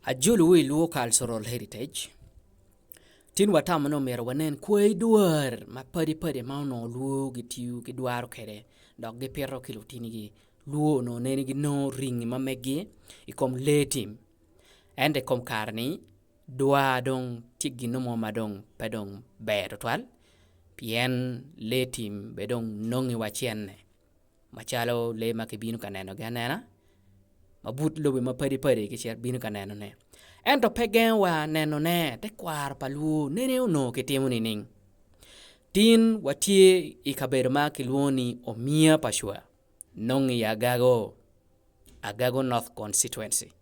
Ajulu wi Luo Cultural Heritage, tin watamo ni omyero wanen kwai dwar mapadi padi ma onongo Luo gitiyo ki dwaro kwede dok gipito ki lutinigi. Luo onongo nene ginongo ringi ma megi i kom lee tim ento i kom kare-ni dwar dong tye gin mo ma dong pe dong ber tutwal pien lee tim bene dong nonge wacene. macalo lee ma kibino ka nenogi anena ma but lobe mapadi padi kicito bino ka nenone ento pe gengowa nenone tekwaro pa lwor nene onongo kitimo nining? Tin watye i kabedo ma kilwongo ni Omia pa Cwa nongo i Agago, Agago North Constituency.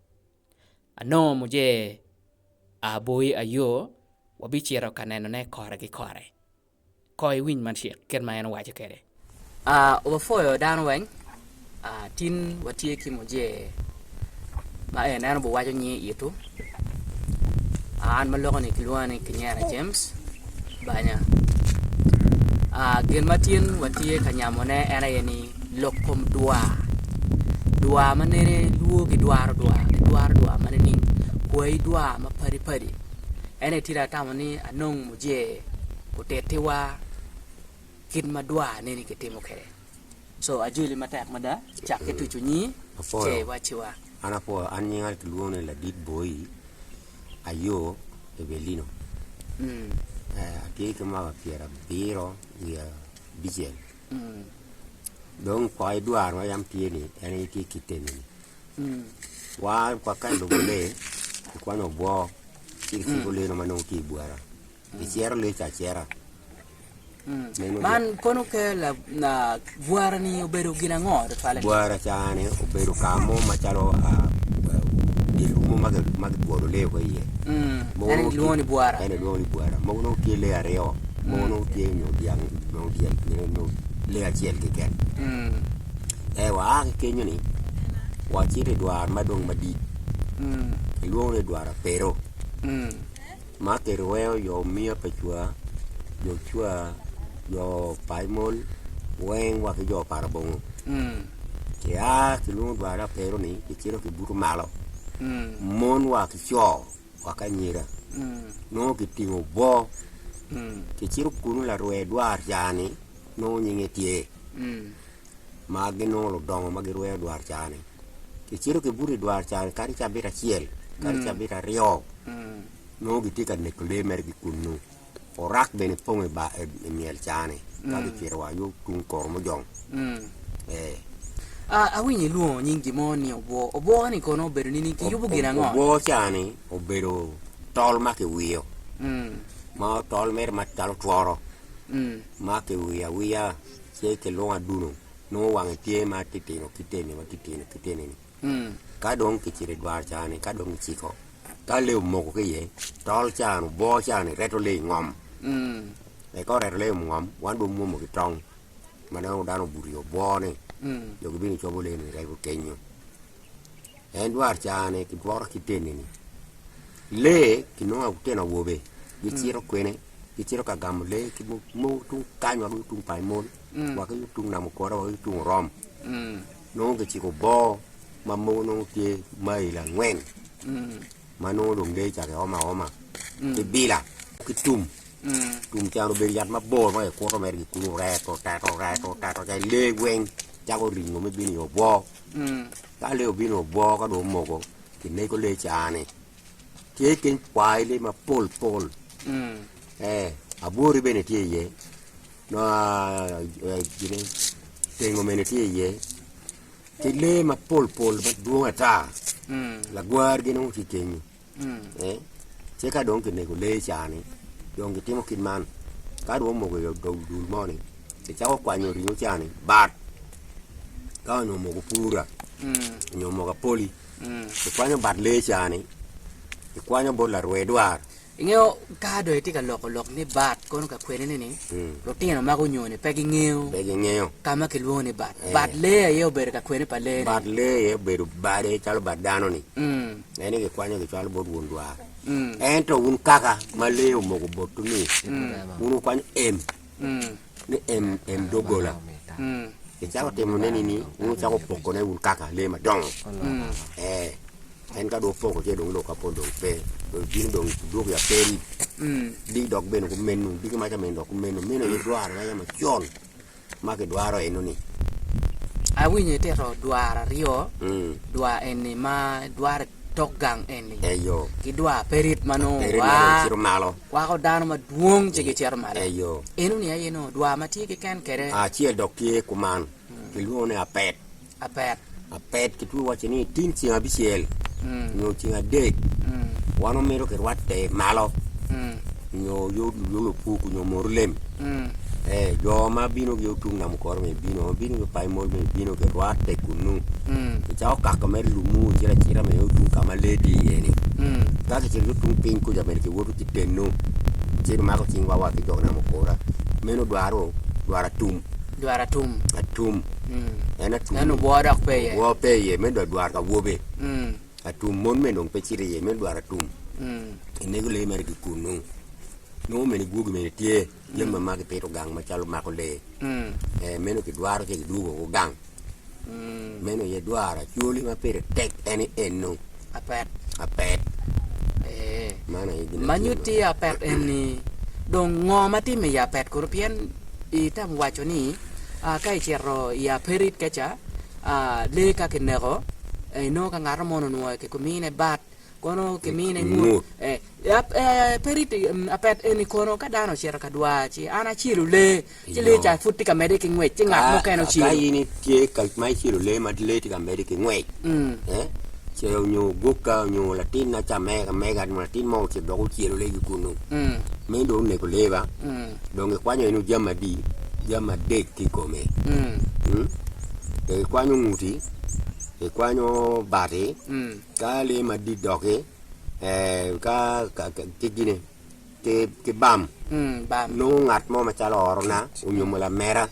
Anongo Muje Aboyi Ayoo wabicito ka nenone kore ki kore. Ko iwiny man cik kit ma en owaco kwede. Obapwoyo dano weng. Tin watye ki mujee ma en en obiwaco nying itu. An ma loko ni kilwonga ni Kinyera James banya. Gin ma tin watye ka nyamone en aye ni lok kom dwa. Dwa ma nene lwor gidwaro dwa, gidwaro dwa ma nining? Kwayi dwa ma padi padi. En aye tye atamo ni anong. Oje otittiwa kit ma dwar neni kitimo kwede. Co ajoli matek mada cak ki tucu nyi ce i wacciwa. An apwoyo. An nyinga kilwongo ni Ladit Boi Ayo Ebelino. Atye ki mwaka pyera abiro wiye abicel. Dong kwai idwar ma yam tye ni en aye tye kit enini. Wa ka i lubo lee, kikwanyo obwor. ci kiciko lino ma nongo tye i bwara, kicero lec acera. Man kono ke bwara-ni obedo gin ango tutwalle? Bwara caa-ni obedo ka mo macalo dye lum mo ma kibwolo lee woko iye. En aye kilwongo ni bwara. En aye kilwongo ni bwara. Mogo nongo tye lee aryo, mogo nongo tye nyo dyang nyo lee acel keken. Ee waa ki kenyo-ni wacito i dwar ma dong madit. kilwongo ni dwara pero ma kirwengo jo miya pa cwa, jo cwa, jo paimol weng wa ki jo pa labongo kia kilwongo dwara pero ni kicito kibuto malo mon wa ki co wa ki anyira nongo kitingo bo kicito kunu larwe dwar ca ni nongo nyinge tye. ma ginongo ludongo ma girweyo dwarcani. Kicito kibuto i dwarcani kadi cabit acel kadi cabit aryo nongo gitye ka neko lee mere ki kunnu. Orak bene pong i ba- i- i myel cani ka gicito wa yo tung kor mujong. Ee. A- awinyo ilwongo nying gin mo ni obwo. Obwo-ni kono obedo nini? Kiyubo gin ango? Obwo cani obedo tol ma kiwiyo Mm. ma tol mere macalo tworo Mm. ma kiwiyo awiya ce kilwongo aduno nongo wange tye ma titino kiteni ma titino kiteni ni ka dong kicito idwar ca ni ka dong kiciko ka lee omoko ki iye tol ca ni obwo ca ni reto lee ingom wek ka oreto lee ingom wan dong wamwomo ki tong ma nongo dano obuto i obwo ni nyo kibino cobo lee ni rego kenyo En dwaro caa-ni kidwoto ki teni-ni. Lee kinongo lutino awobe gicito kwene gicito ka gamo lee ki mogo tung kany wa ki tung pa emol wa ki tung nam okora wa ki tung orom nongo kiciko boo ma mogo nongo tye mail angwen ma nongo dong lee ca giomo aoma ki bila ki tum, tum cani obedo yat mabor ma kikuto mere kikunu rek oteto rek oteto lee weng cako ringo me bino i obwor Ka lee obino obwo ka dong omoko kinego lee caa-ni. Tye keny kwayi lee mapol pol ee abwori bene tye iye tengo bene tye iye ki lee mapol pol madwong ata lagwar gin onongo tye kenyo. Ci ka dong kinego lee ca-ni, dong kitimo kit man, ka dong omoko i dog dul mo-ni, kicako kwanyo ringo ca-ni bat, ka onongo omoko pura nyo omoko apoli, kikwanyo bat lee ca-ni, kikwanyo bot larwe dwar. Ingeyo ka dong itye ka loko lok ni bat kono ka kwedine ni, lutino ma gunyo-ni pe gingeyo Pe gingeyo. ka ma kilwongo ni bat. Bat lee aye obedo ka kwene pa lee-ni. Bat lee aye obedo bade calo bat dano-ni. Mm. Ne ni gikwanyo gicwalo bot won dwar. Ento wun kaka ma lee omoko botwu ni wun wukwanyo em ni em em doggola. Icako timo ne nini? Wun wucako poko ne wun kaka lee madongo. Eh, en ka dong opoko ce dong lok kapol dong pe. Dong ibino dong idwogo ya peri. Diki dok bene kumeno, diki maca bene dok kumeno. Meno aye dwarre ma yam acol. ma kidwaro eno ni. Awinyo itito dwaro aryo, dwaro eni ma dwaro tok gang eni, ki dwaro aperit ma nongo wa, kwako dano madwong ci gicito malo. Eno ni aye nongo dwaro ma tye ki ken kede. Acel dok tye kuman kilwongo ni apet. Apet. Apet kitwero wacce ni tin ceng abicel nyo ceng adek wan wamito kirwatte malo nyo yot lulunge opuk nyo moru lem. Eh, jo ma bino ki otung namo koro me bino, ma bino ki opayo mol me bino kirwatte kunu. Kicako kako mere lumu kicito acita me otung ka ma lee tye iye-ni. Ka kicito ki otung piny kuca bene kiwoto ki teno, kiceto mako cingwa wa ki jo namo kora. Meno dwaro dwaro atum. Dwar atum. Atum. En atum. En obwor dok pe iye. Obwor pe iye. Meno dong dwar ka wobe. Atum. Mon mene dong pe cito iye. Meno dwar atum. Inego lee mere ki kunnu. Nongo mene gwogi mene tye. Jami ma magi pito gang macalo mako lee. Ee, meno kidwaro ce kidwogo woko gang. Meno aye dwaro. Acholi ma pire tek en ni eno. Apet. Ma nyutti i apet eni dong ngo ma timme i apet kuro pien itemo waco ni ka icito i aperit keca lee ka kineko inongo ka ngat mo onongo ki mine bat kono ki mine ngut apet eni kono ka dano ocito ka dwar ci an acelu lee ci lee ca pud tye ka medde ki ngwec ci ngat mukene ocelu. Ka in itye ka ma icelu lee ma lee tye ka medde ki ngwec, ce onyo ogukka onyo latin na ca mege ka mega onyo latin mo ocito dok ocelu lee ki kunnu, meno dong onego lee ba? Dong gikwanyo inu jami adi? Jami adek tye i kome, gikwanyo nguti, gikwanyo bati, ka lee madit dok-ki ki gine ki bam nongo ngat mo macalo orona nyo lamera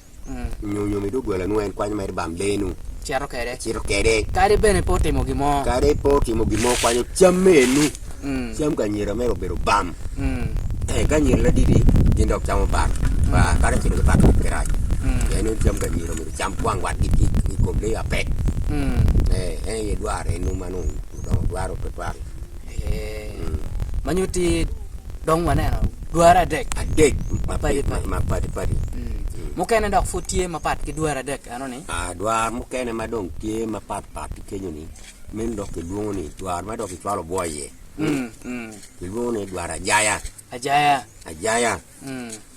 nyo nyo mi doggola nongo en kwanyo mere bam lee nu cito kede cito kede kadi bene pe otimo gin mo kadi pe otimo gin mo kwanyo cam me enu cam ka anyira mere obedo bam ka anyira ladidi gin dok camo bam kadi ocito ki bam pe rac pien ni cam ka anyira myero ocam kwang watgi ki kom lee mapek en aye dwarone enu ma nongo odongo dwaro tutwal. ma nyutti dong waneno dwara adek adek mapadi padi mukene dok pud tye mapat ki dwara adek eno ni dwara mukene ma dong tye mapat pat ki kenyo ni meno dong kilwongo ni dwara ma dong kicwalo bwo iye kilwongo ni dwara ajaya ajaya ajaya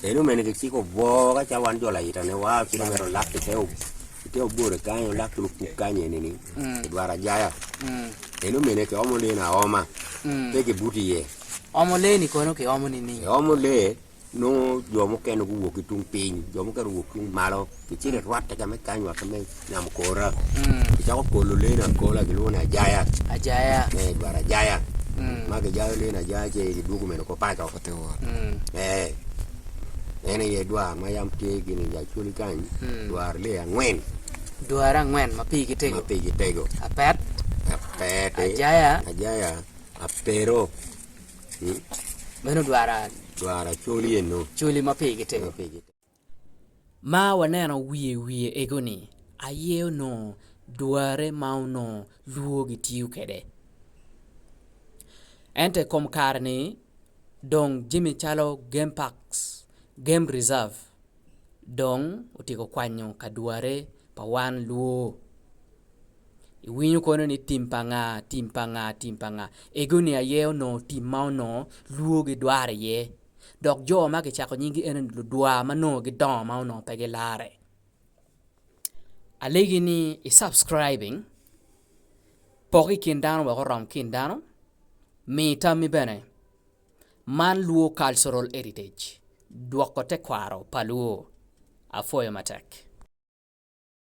Eno omene kiciko obwo ka ca wan jo layitane wa ci nongo ero lak kite kite obore kany olak ki lupuk kany eni ni kidwaro ajaya eno omene kiomo lee ni aoma pe kibuto iye Omo lee ni kono kiomo nining? Kiomo lee nongo jo mukene guwok ki tung piny jo mukene guwok tung malo Kicito i rwatte ka me kany wa ki me namo kora, kicako kolo leeni akola gilwongo ni ajaya, ee dwaro ajaya ma kijayo leeni ajaya ci kidwogo mene oko paco, ee en aye dwaro ma yam tye gin i Acoli kany, dwaro lee angwen ma pigi tego, apet, ajaya, apero, dwaro acoli eno. Ma waneno wiye wiye ego ni aye onongo dwarre ma onongo lwor gitiyo kwede ento i kom kare ni dong jami calo game park game reserve dong otyeko kwanyo ka dwarre pa wan lwor iwinyo kono ni tim pa nga tim pa nga tim pa nga ego ni aye onongo tim ma onongo lwor gidwaro iye. dok jo ma kicako nyinggi ene ni ludwa ma nongo gidongo ma onongo pe gilarre. Alegi ni i subscribing, pok ki i kin dano wek orom ki in dano, mi tammi bene. Man Luo Cultural Heritage, dwoko tekwaro pa Luo. Apwoyo matek.